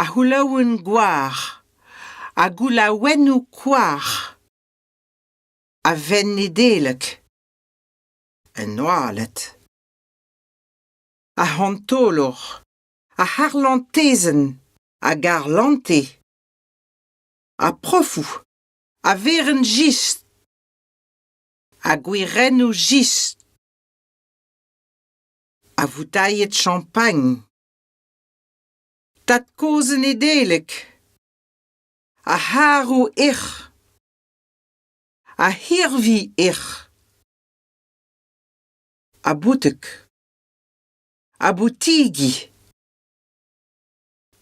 ar c'houlaouenn goar, ar goulaouennoù koar, a venn Nedeleg, en oaled, ar c'hantolor, ar c'harlantezenn hag ar lante, ar profoù, ar werenn jist, ar gwirennoù jist, ar voutailhed champagn. Tad-kozh Nedeleg. Ar c'harv hec'h. Ar c'hirvi hec'h. Ar boutek. Ar boutigi.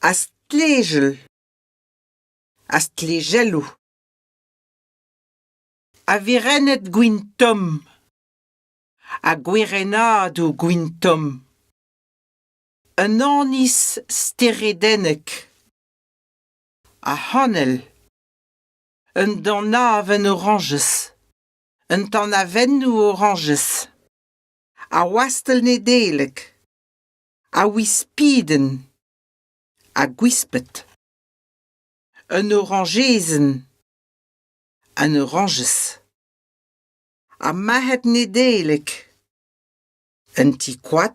Ar stlejell. Ar stlejelloù. Ar werenned gwin tomm. Ar gwerennadoù gwin tomm. un annez steredennek ar c'hanell un danavenn orañjez un tanavennoù orañjez ar wastell nedeleg ar wispidenn ar gwisped un orañjezenn an orañjez ar marc'had nedeleg un ti-koad